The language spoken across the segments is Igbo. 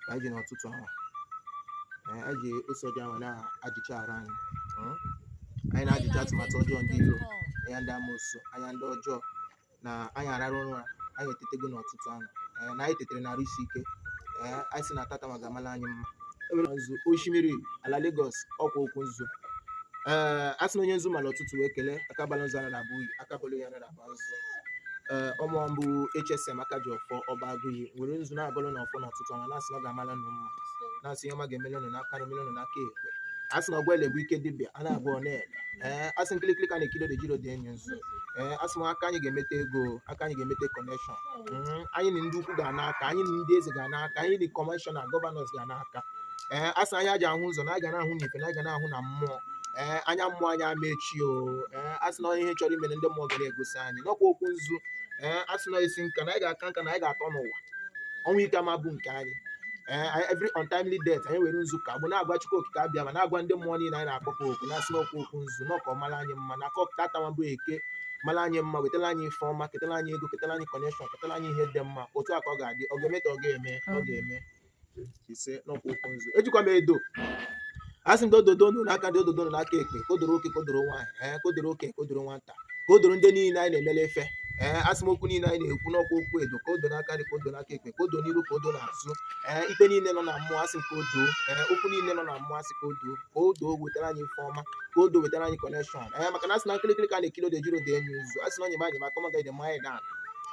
anyị ji n'ụtụtụ a Ee, anyị ji ose ọjị a na-ajụcha arụ anyị Mm. anyị na-ajụcha atụmatụ ọjọọ ndị iro anya ndị amoosu anya ndị ọjọọ na anyị arara ụra anyị etetego n'ụtụtụ a Ee, na anyị tetere n'arụ isi ike Ee, anyị si na tata ma ga-amala anyị mma ewere nzu osimiri ala Lagos ọkwa okwu nzu ee a sị na onye nzu mara ụtụtụ wee kelee aka bala nzu anara abụ unyi aka bala unyi anara abụ nzu ee ọ mụwa bụ HSM aka ji ọfọ ọba agụghị were nzu na-agọlụ nụ ọfọ n'ụtụtụ ọnwa na-asị na ọ ga-amala nụ mma na-asị ihe ọma ga-emele nụ n'aka nri emele nụ n'aka ekpe a sị na ọgwụ ele bụ ike dibịa a na-agwọ ọ na-ele ee a sị nkirikiri ka a na-ekiri odo ejiro odo eni ozu ee a sị m aka anyị ga-emete ego aka anyị ga-emete kọnekshọn anyị na ndị ukwu ga-ana aka anyị na ndị eze ga-ana aka anyị na kọmishọna gọvanọs ga-ana aka ee a sị anya ji ahụ ụzọ na a ga na-ahụ n'ife na a ga na-ahụ na mmụọ ee anya mmụọ anyị ama echi o ee a sị na ihe chọrọ imere ndị mmụọ ga na-egosi anyị n'ọkwa okwu nzu ee a sị na isi nka na anyị ga-aka nka na anyị ga-atọ n'ụwa ọnwụ ike ama abụ nke anyị ee anyị- every untimely death anyị were nzu ka bụ na-agwa Chukwu okike abịama na-agwa ndị mmụọ niile anyị na-akpọku oku na-asị n'ọkwa okwu nzu n'ọka ọ mara anyị mma na aka ọkụ tata wa bụ eke mara anyị mma wetara anyị ife ọma ketara anyị ego ketara anyị kọnekshọn ketara anyị ihe dị mma otu a ka ọ ga-adị ọ ga-eme ka ọ ga-eme ọ ga-eme isee n'ọkwa okwu nzu ejikwa m edo asị m gị ododo nụ n'aka nri ododo nụ n'aka ekpe ka o dooro oke ka o dooro nwaanyị ee ka o dooro oke ka o dooro nwata ka o dooro ndị niile anyị na-emele ife ee asị m okwu niile anyị na-ekwu n'ọkwa okwu edo ka o doo n'aka nri ka o doo n'aka ekpe ka o doo n'iru ka o doo n'azụ ee ikpe niile nọ na mmụọ asị m ka o doo ee okwu niile nọ na mmụọ asị ka o doo ka odo wetara anyị ife ọma ka odo wetara anyị kọnekshọn ee maka na asị na nkirikiri ka a na-ekiri odo ejiro odo eni ozu asị na onye ma anyị maka ọma gaghị dị mma anyị dan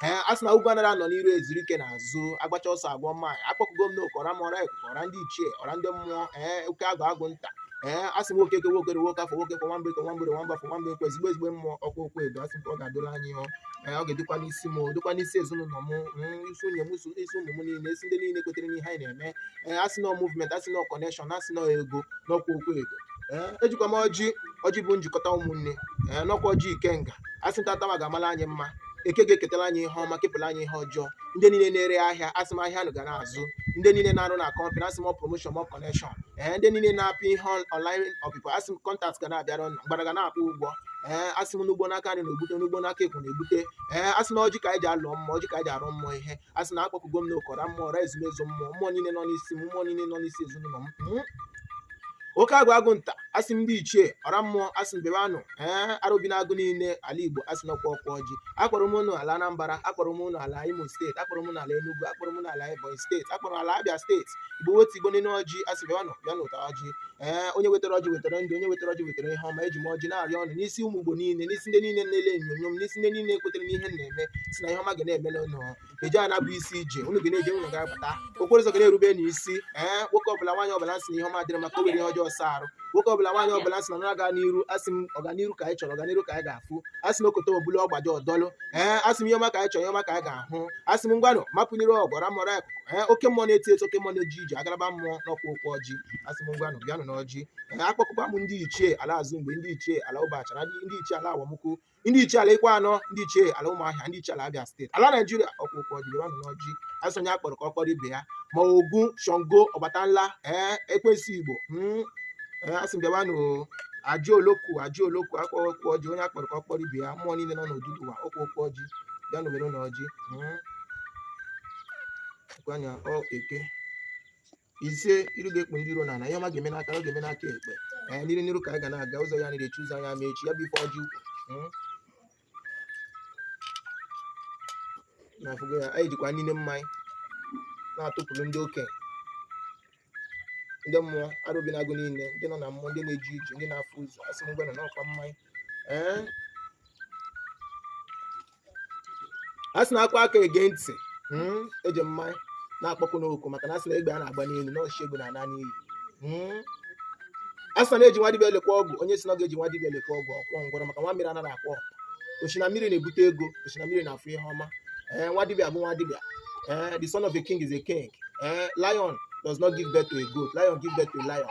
ee a sị na ugwu anara anọ n'iru ezuru ike n'azụ agbacha ọsọ agụọ maịl akpọkugo m n'oke ọra mmụọ ọra ekuku ọra ndị ichie ọra ndị mmụọ ee oke agwụ agwụ nta ee a sị nwoke eke nwoke orie nwoke afọ nwoke nkwọ nwamba eke nwamba orie nwamba afọ nwamba nkwọ ezigbo ezigbo mmụọ ọkwa okwu edo asị nke ọ ga-adịla anyị o ee ọ ga-edokwa n'isi m dokwa n'isi ezinụlọ m mm, isi nwunye m isi isi ụmụ m niile isi ndị niile kwetere n'ihe anyị na-eme ee asị na ọ movement asị na ọ connection asị na ọ ego n'ọkwa okwu edo ee ejikwa m ọjị ọjị bụ njikọta ụmụnne ee n'ọkwa ọjị ikenga asị na tata ma ga-amala anyị mma eke ga-eketara anyị ihe ọma kepụrụ anyị ihe ọjọọ ndị niile na-ere ahịa asị m ahịa nụ ga na-azụ ndị niile na-arụ na kọmpanị asị m ọ promoshọn ọ kọnekshọn ee ndị niile na-apị ihe ọnlaịn ọpịpị asị m kọntaktị ga na-abịara ụnụ mgbada ga na-akwụ ụgwọ ee asị m nụ gbuo n'aka nri nụ egbute nụ gbuo n'aka ekpe nụ egbute ee asị na ọjị ka anyị ji alọ mmụọ ọjị ka anyị ji arịọ mmụọ ihe asị na akpọkugo m n'oke ọra mmụọ ọra ezumezu mmụọ mmụọ niile nọ n'isi m mmụọ niile nọ n'isi ezinụlọ m oke agwụ agwụ nta asị m ndị ichie ọra mmụọ asị m bịabe nụ ee arobinagụ niile ala igbo asị n'ọkwa ọkwa ọjị akpọrọ m unu ala anambra akpọrọ m unu ala imo steeti akpọrọ m unu ala enugu akpọrọ m unu ala ebonyi steeti akpọrọ ala abịa steeti igbo wetu igbo niile ọjị asị bịanụ bịanụ taa ọjị ee onye wetara ọjị wetara ndụ onye wetara ọjị wetara ihe ọma eji m ọjị na-arịọ ụnụ n'isi ụmụ igbo niile n'isi ndị niile na-ele onyonyo m n'isi ndị niile kwetara n'ihe m na-eme si na ihe ọma ga na-emele ụnụ eje ana bụ isi ije unu ga na-eje unu ga-abata okporo ụzọ ga na-erube na isi ee nwoke ọbụla nwaanyị ọbụla sị na ihe ọma adịrọ mma ka o were ihe ọjọọ saa arụ nwoke ọbụla nwaanyị ọbụla sị na na-aga n'iru asị m ọganiru ka anyị chọrọ ọganiru ka anyị ga-afụ asị m okoto obulu ọgbaji ọdọlụ ee asị m ihe ọma ka anyị chọrọ ihe ọma ka anyị ga-ahụ asị m ngwanụ mapụnyere ọgwara mọrọ akụ ee oke mmụọ na-eti eti oke mmụọ na-eji ije agaraba mmụọ n'ọkwa oku ọjị asị m ngwanụ bịanụ n'ọjị ee akpọkụkwa m ndị ichie ala azụ mgbe ndị ichie ala ụbachara ndị ichie ala awomukwu ndị ichie ala ikwuanọ ndị ichie ala ụmụahịa ndị ichie ala abịa steeti ala naijiria ọkwa oku ọjị bịawanụ n'ọjị asị onye akpọrọ ka ọ kpọrọ ibe ya ma ogun shango ọbatala ee ekwensu igbo mm, ee, asị m bịawanụ aje olokun aje olokun akpọ oku ọjị onye akpọrọ ka ọ kpọrọ ibe ya mmụọ niile nọ n'odudu ụwa ọkwa oku ọjị bịanụ were n'ọjị mm. Gwa ya, ọ eke ise iru ga-ekpu ndị iro n'ala ihe ọma ga-eme n'aka ọ ga-eme n'aka ekpe ee n'iru n'iru ka anyị ga na-aga ụzọ ya na-echi ụzọ anyị ama echi ya bụ ife ọjị ukwu Mm. na-afụgo ya anyị jikwa niile mmanya na-atụpụrụ ndị okenye ndị mmụọ arụ bi n'agụ niile ndị nọ na mmụọ ndị na-eji ije ndị na-afụ ụzọ asị m ngwanụ n'ọkwa mmanya ee a sị na akwa aka ege ntị mm, eji mmanya na-akpọku unu oku maka na a sị na egbe a na-agba n'elu na ọchịchị egbe na-ana n'iyi Mm. a sị na na-eji nwa dibịa elekwa ọgwụ onye sị na ọ ga-eji nwa dibịa elekwa ọgwụ ọkwọ ngwọrọ maka nwa mmiri anaghị akwọ ọkpa o si na mmiri na-ebute ego o si na mmiri na-afụ ihe ọma ee nwa dibịa bụ nwa dibịa ee the son of a king is a king ee lion does not give birth to a goat lion give birth to a lion